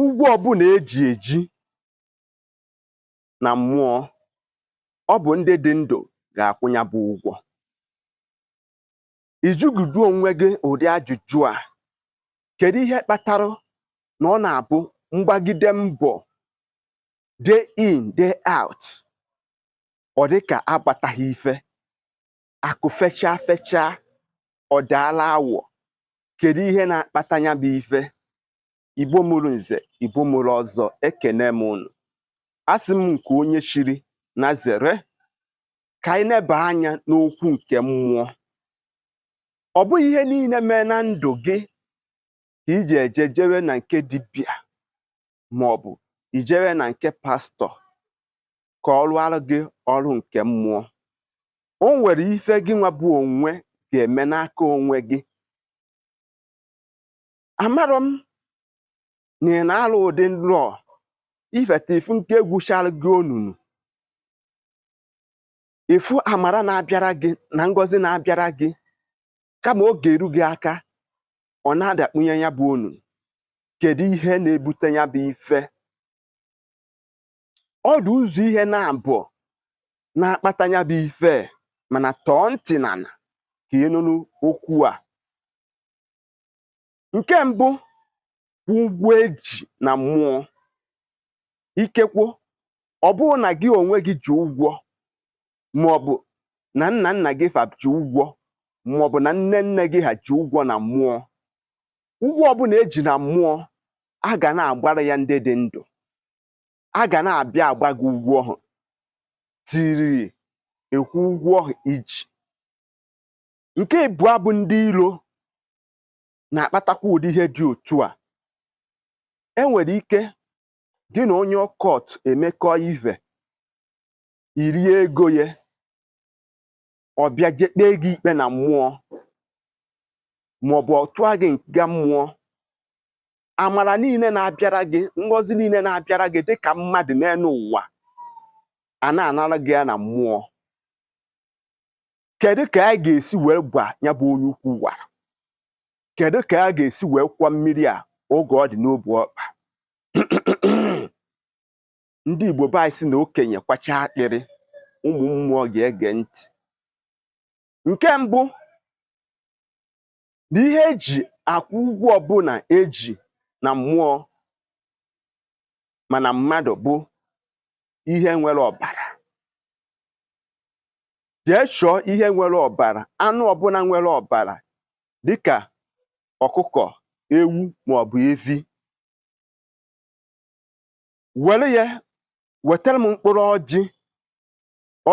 ụgwọ ọbụla eji eji na mmụọ ọ bụ ndị dị ndụ ga-akwụ ya bụ ụgwọ ị jụgodu onwe gị ụdị ajụjụ a kedu ihe kpatara na ọ na-abụ m gbagide mbọ day in day out ọ dị ka agbataghị ife akụ fechaa fechaa ọ daala awọ kedu ihe na-akpata ya bụ ife igbo mụrụ nze igbo mụrụ ọzọ ekene m unu asị m nke onye chiri nya zere ka anyị neba anya n'okwu nke mmụọ ọ bụghị ihe niile mee na ndụ gị ka i ji eje jewe na nke dibịa ma ọ bụ i jewe na nke pastọ ka ọ rụọrọ gị ọrụ nke mmụọ o nwere ife gị nwa bụ onwe ga-eme n'aka onwe gị amarọ m na ị na-alọ ụdị nlọ ifeta ị fụ nke egwuchara gị onunu ị fụ amara na-abịara gị na ngọzi na-abịara gị kama ọ ga-eru gị aka ọ na-adakpunye ya bụ onunu kedu ihe na-ebute ya bụ ife ọ dị ụzọ ihe naabọ na-akpata ya bụ ife mana tọọ ntị n'ala ka ị nụrụ okwu a nke mbụ bụ ụgwọ eji na mmụọ ikekwo ọ bụrụ na gị onwe gị ji ụgwọ maọbụ na nna nna gị fa ji ụgwọ maọbụ na nne nne gị ha ji ụgwọ na mmụọ ụgwọ ọbụla eji na mmụọ a ga na-agbara ya ndị dị ndụ a ga na-abịa agba gị ụgwọ ọhụ till ị kwụọ ụgwọ ọhụ i ji nke ịbụọ bụ ndị ilo na-akpatakwa ụdị ihe dị otu a e nwere ike gị na onye occult emekọọ ive i rie ego ya ọ bịa je kpee gị ikpe na mmụọ maọbụ ọ tụa gị nga mmụọ amara niile na-abịara gị ngọzi niile na-abịara gị dịka mmadụ n'elu ụwa a na-anara gị ya na mmụọ kedu ka a ga-esi wee kwọọ ya bụ onye ukwu wara kedu ka a ga-esi wee kwọọ mmiri a oge ọ dị n'ọbụ ọkpa ndị Igbo be anyị sị na okenye kwachaa akpịrị ụmụ mmụọ ga-ege ntị nke mbụ na ihe eji akwụ ụgwọ ọbụla eji na mmụọ ma na mmadụ bụ ihe nwere ọbara jee chọọ ihe nwere ọbara anụ ọbụla nwere ọbara dịka ọkụkọ ewu maọbụ evi were ya wetara m mkpụrụ ọjị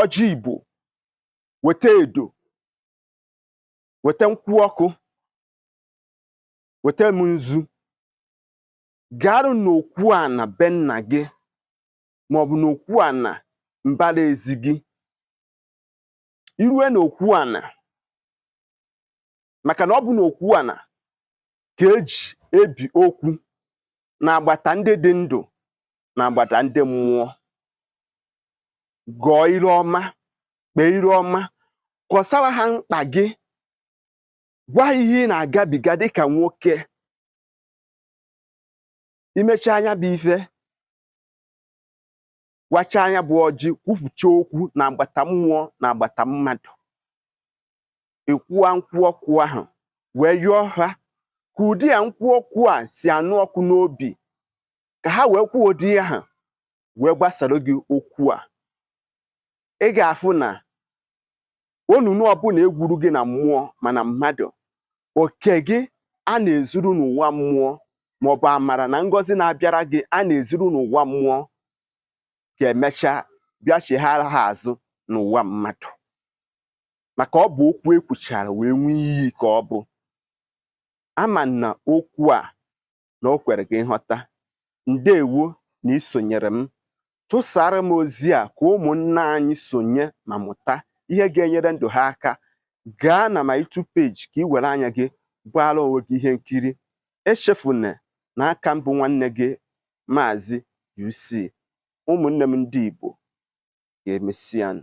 ọjị igbo weta edo weta nkwụ ọkụ weta m nzu garụ n'okwu ana be nna gị maọbụ n'okwu ana mbara ezi gị i rue n'okwu ana maka na ọ bụ n'okwu ana ka eji ebi okwu na agbata ndị dị ndụ na agbata ndị mmụọ gọọ iru ọma kpee iru ọma kọsara ha mkpa gị gwa ihe ị na-agabiga dịka nwoke i mechaa nya bụ ife wachaa nya bụ ọjị kwupụcha okwu na agbata mmụọ na agbata mmadụ ekwuwa nkwụ ọkụ ahụ wee yọọ ha ka ụdị ya nkwụ ọkụ a si anụ ọkụ n'obi ka ha wee kwuo ụdị ahụ wee gbasara gị okwu a ị ga-afụ na onunu ọbụla egwuru gị na mmụọ ma na mmadụ oke gị a na-ezuru n'ụwa mmụọ maọbụ amara na ngọzi na-abịara gị a na-ezuru n'ụwa mmụọ ga-emecha bịa chighara ha azụ n'ụwa mmadụ maka ọ bụ okwu ekwuchara wee ṅụọ iyi ka ọ bụ ama m na okwu a na o kwere gị nghọta ndewo na isonyere m tụsara m ozi a ka ụmụnna anyị sonye ma mụta ihe ga-enyere ndụ ha aka gaa na my YouTube page ka ị were anya gị gbaara onwe gị ihe nkiri echefuna na aka m bụ nwanne gị maazị UC ụmụnne m ndị Igbo ka emesịanụ